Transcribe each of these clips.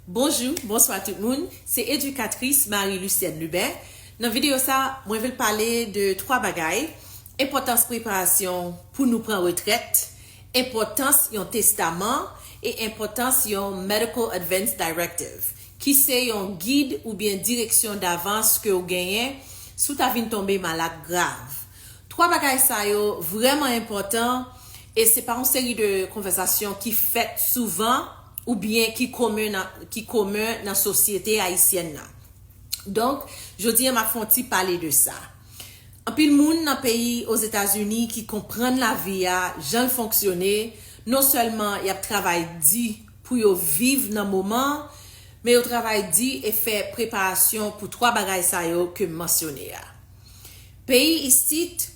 Bonjou, bonswa tout moun, se edikatris Marie Lucienne Lubin. Nan videyo sa, mwen vle pale de 3 bagay, enpòtans preparasyon pou nou pran retrèt, enpòtans yon testaman e enpòtans yon Medical Advance Directive, ki se yon gid oubyen direksyon davans ke ou genyen si w ta vin tonbe malad grav. 3 bagay sa yo vrèman enpòtan e se pa yon seri de konvèsasyon ki fèt souvan, ou byen ki komen nan ki komen nan sosyete ayisyèn nan. Donk, jodi a m ap fè yon ti pale de sa. Anpil moun nan peyi Ozetazini ki konprann lavi a jan l fonksyone, non sèlman y ap travay di pou yo viv nan moman an, men yo travay di e fè preparasyon pou twa bagay sa yo ke m mansyone a. Peyi isit,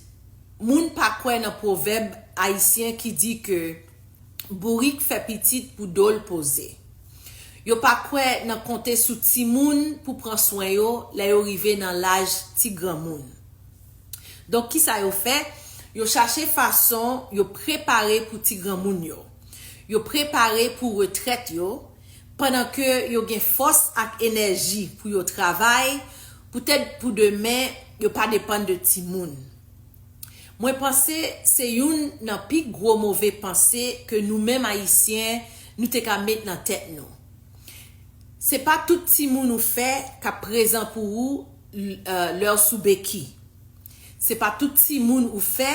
moun pa kwè nan pwovèb ayisyen ki di ke. bourik fè pitit pou do l poze. Yo pa kwè nan konte sou timoun pou pran swen yo lè yo rive nan laj ti granmoun. Donk ki sa yo fè? Yo chache fason yo prepare pou ti granmoun yo. Yo prepare pou retrèt yo, pandan ke yo gen fòs ak enèji pou yo travay, poutèt pou demen yo pa depann de timoun. Mwen panse se youn nan pi gwo move panse ke nou menm Ayisyen nou te ka met nan tèt nou. Se pa tout timoun ou fè k ap prezan pou ou lè w sou beki. Se pa tout timoun ou fè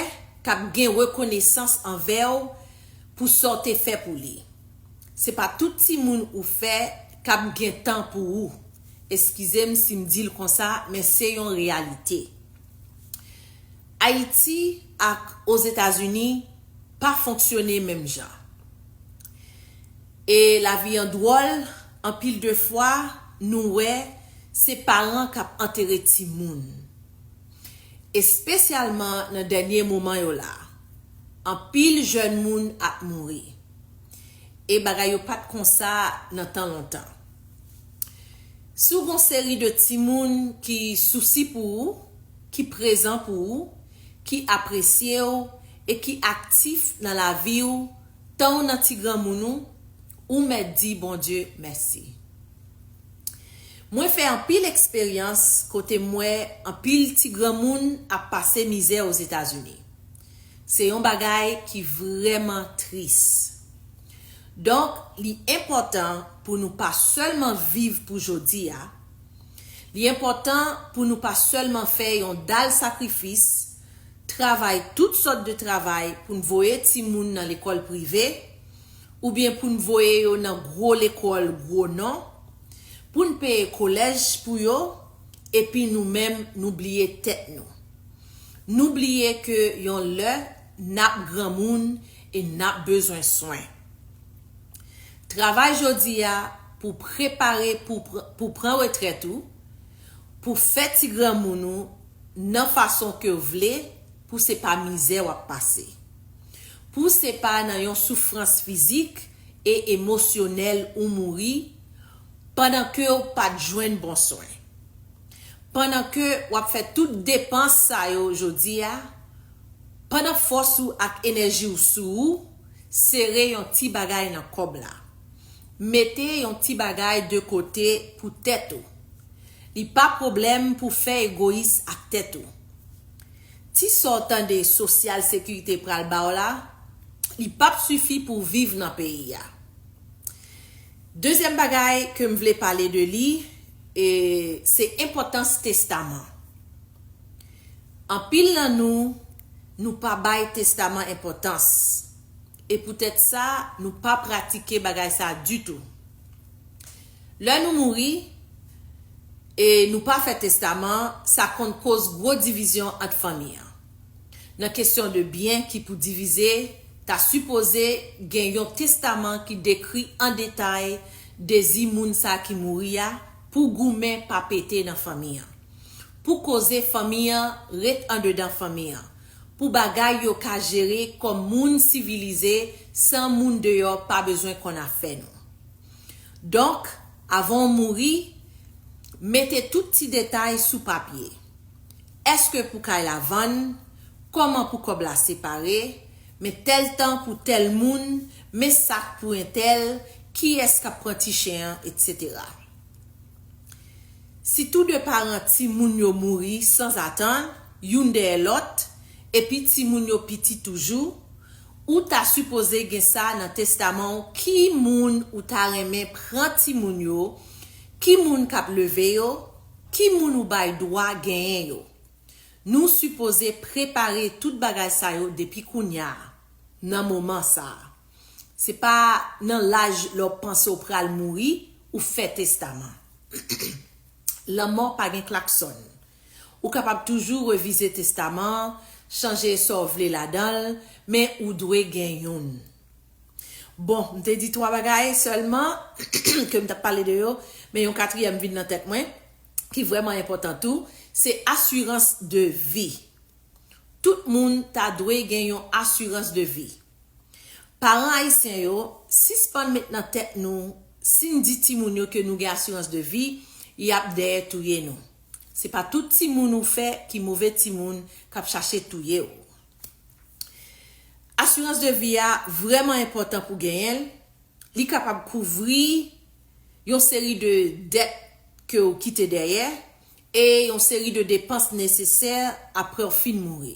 k ap gen rekonesans anvè w pou sa w te fè pou li. Se pa tout timoun ou fè k ap gen tan pou ou. Eskize m si m di l konsa, men se yon reyalite. Ayiti ak Ozetazini pa fonksyone menm jan. E lavi an dwòl, anpil de fwa nou wè se paran k ap antere timoun. Espesyalman nan dènye moman yo la, anpil jèn moun ap mouri. E bagay yo pa t konsa nan tan lontan. Si w gon seri de timoun ki sousi pou ou, ki prezan pou ou, ki apresye w e ki aktif nan lavi w tan w nan ti granmoun ou, ou mèt di Bondye mèsi. Mwen fè anpil eksperyans kote m wè anpil ti granmoun ap pase mizè Ozetazini. Se yon bagay ki vrèman tris. Donk li enpòtan pou nou pa sèlman viv pou jodi a, Li enpòtan pou nou pa sèlman fè yon dal sakrifis, travay tout sòt de travay pou n voye timoun nan lekòl prive, oubyen pou n voye yo nan gwo lekòl gwo non, pou n peye kolèj pou yo, epi nou menm nou bliye tèt nou. Nou bliye ke yon lè, n ap granmoun e n ap bezwen swen. Travay jodi a pou prepare pou w pran retrèt ou, pou w fè ti granmoun ou nan fason ke w vle pou se pa mizè w ap pase. Pou se pa nan yon soufrans fizik e emosyonèl ou mouri pandan ke w pa t jwenn bon swen. Pandan ke w ap fè tout depans sa yo jodi a, pandan fòs ou ak enèji w sou ou, Sere yon ti bagay nan kòb la. Mete yon ti bagay de kote pou tèt ou. Li pa pwoblèm pou fè egoyis ak tèt ou. Ti sa w tande sosyal sekirite pral ba w la, li p ap sifi pou w viv nan peyi a. Dezyèm bagay ke m vle pale de li, se enpòtans testaman. Anpil nan nou, nou pa bay testaman enpòtans, e poutèt sa, nou pa pratike bagay sa a ditou. Lè nou mouri, e nou pa fè testaman, sa konn koz gwo divizyon ant fanmi an. Nan kesyon de byen ki pou divize, ta sipoze gen yon testaman ki dekri an detay dezi moun sa ki mouri a pou goumen pa pete nan fanmi an. pou koze fanmi an ret andedan fanmi an, pou bagay yo ka jere kòm moun sivilize san moun deyò pa bezwen konn afè nou. Donk, avan w mouri, mete tout ti detay sou papye. Èske pou kay la vann, kòman pou kòb la separe, men tèl tan pou tèl moun, men sak pou entèl, kiyès k ap pran ti chen an, etsetera. Si tou de paran timoun yo mouri sanzatann, youn dèyè lòt, epi timoun yo piti toujou, ou ta sipoze gen sa nan testaman w ki moun ou ta renmen pran timoun yo, ki moun k ap leve yo, ki moun ou bay dwa genyen yo. Nou sipoze prepare tout bagay sa yo depi kounye a, nan moman sa a. Se pa nan laj lè w panse w pral mouri ou fè testaman. Lanmò pa gen klaksòn. Ou kapab toujou revize testaman an, chanje sa w vle ladan l, men ou dwe gen youn. Bon, m te di twa bagay sèlman ke m t ap pale de yo, men yon katriyèm vin nan tèt mwen, ki vrèman enpòtan tou, se asirans de vi. Tout moun ta dwe gen yon asirans de vi. Paran ayisyen yo, sispann met nan tèt nou si n di timoun yo ke nou gen asirans de vi, y ap dèyè touye nou. Se pa tout timoun ou fè ki move timoun k ap chache touye w. Asirans de vi a vrèman enpòtan pou genyen l, li kapab kouvri yon seri de dèt ke w kite dèyè, E yon seri de depans nesesè apre w fin mouri.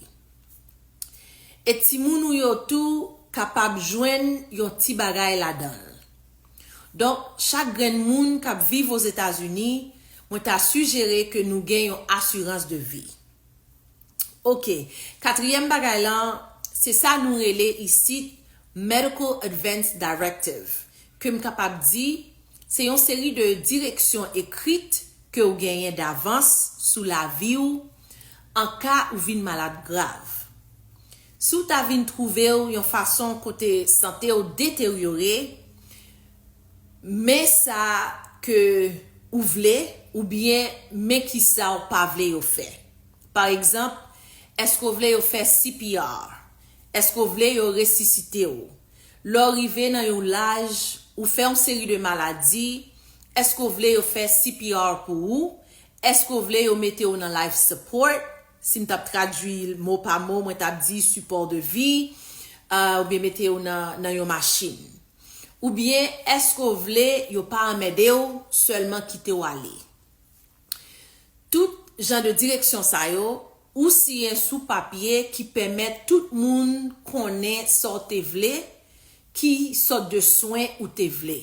E timoun ou yo tou kapab jwenn yon ti bagay ladan l. Donk, chak grenn moun k ap viv Ozetazini, mwen ta sijere ke nou gen yon asirans de vi. Oke, katriyèm bagay lan, se sa nou rele isit Medical Advance Directive, ke m kapab di, Se yon seri de direksyon ekrit ke ou genyen davans sou lavi ou an ka ou vin malad grav. Si ou ta vin twouve ou yon fason kote sante ou deteryore, men sa ke ou vle oubyen men kisa ou pa vle yo fè. Pa egzanp, èske ou vle yo fè CPR? Èske ou vle yo resisite ou? Lè w rive nan yon laj, ou fè yon seri de maladi, èske w vle yo fè CPR pou ou? Èske w vle yo mete w nan life support? Si m t ap tradui l mo pa mo, mwen t ap di sipò de vi, oubyen mete w nan yon machin. Oubyen èske w vle yo pa anmède w, sèlman kite w ale? Tout jan de direksyon sa yo, ou siyen sou papye ki pèmèt tout moun konnen sa w te vle, ki sòt de swen ou te vle.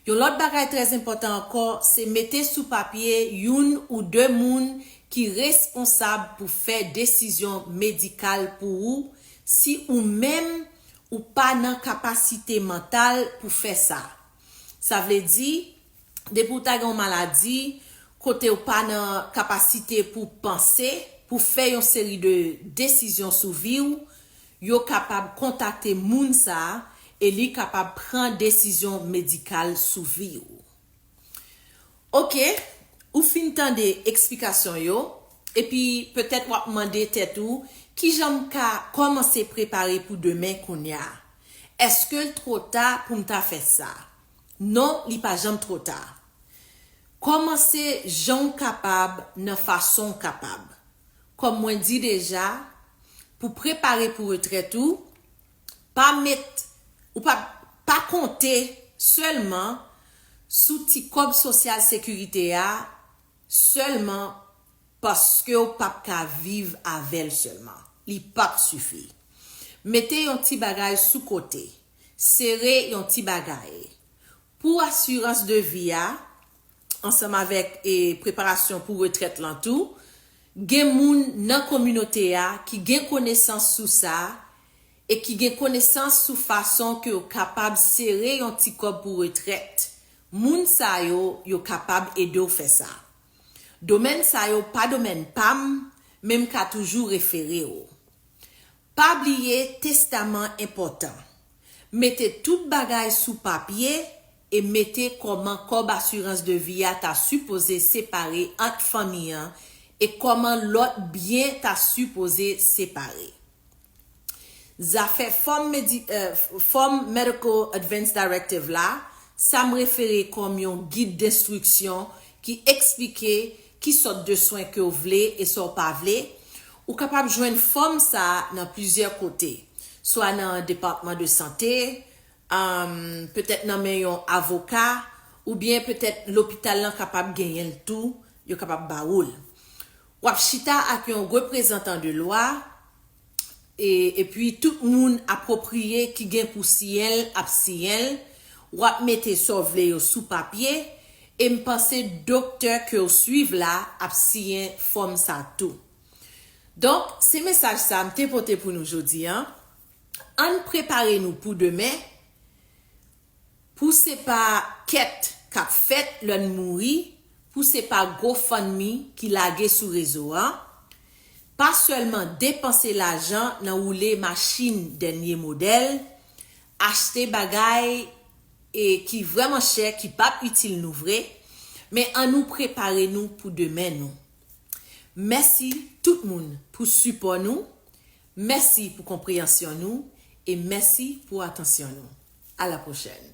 Yon lòt bagay trèzenpòtan ankò, se mete sou papye youn ou de moun ki responsab pou fè desizyon medikal pou ou si ou menm ou pa nan kapasite mantal pou fè sa. Sa vle di, depi ou ta gen yon maladi kote ou pa nan kapasite pou w panse, pou w fè yon seri de desizyon sou vi w, yo kapab kontakte moun sa a e li kapab pran desizyon medikal sou vi w. Ok, ou fin tande eksplikasyon yo, epi petèt w ap mande tèt ou, Kijan m ka kòmanse prepare pou demen kounye a? Èske l two ta pou m ta fè sa? Non li pa janm two ta. Komanse jan w kapab nan fason w kapab. Kom mwen di deja, pou prepare pou retrèt ou, pa met ou pa pa konte selman sou ti kob sosyal sekirite a selman paske w pap ka viv avè l selman. Li pap sifi. Mete yon ti bagay sou kote. sere yon ti bagay pou asirans de vi a ansanm avèk preparasyon pou retrèt lan tou, gen moun nan kominote a ki gen konesans sou sa e ki gen konesans sou fason ke yo kapab sere yon ti kòb pou retrèt, moun sa yo, yo kapab ede w fè sa. Domèn sa yo pa domèn pa m, men m ka toujou refere w. Pa bliye testaman enpòtan. Mete tout bagay sou papye e mete kòman kòb asirans de vi a ta sipoze separe ant fanmi an e kòman lòt byen ta sipoze separe. Zafè Fòm Medi Fòm Medical Advance Directive la, sa m refere kòm yon gid denstriksyon ki eksplike Ki sòt de swen ke w vle e sa w pa vle? Ou kapab jwenn fòm sa nan plizyè kote, swa nan depatman de sante, petèt nan men yon avoka, oubyen petèt lopital lan kapab genyen l tou, yo kapab ba ou l. W ap chita ak yon reprezantan de lwa, epi tout moun apwopriye ki gen pou siyen l ap siyen l, w ap mete sa w vle yo sou papye, e m panse doktè ke w swiv la ap siyen fòm sa tou. Donk, se mesaj sa m te pote pou nou jodi an, ann prepare nou pou demen, Pou se pa kèt kap fèt lè n mouri, pou se pa gofundme ki lage sou rezo a, pa sèlman depanse lajan nan woule machin dènye modèl, achte bagay e ki vrèman chè ki pap itil nou vre, men an nou prepare nou pou demen nou. Mèsi tout moun pou sipò nou, Mèsi pou konpreyansyon nou e mèsi pou atansyon nou. A la pwochèn!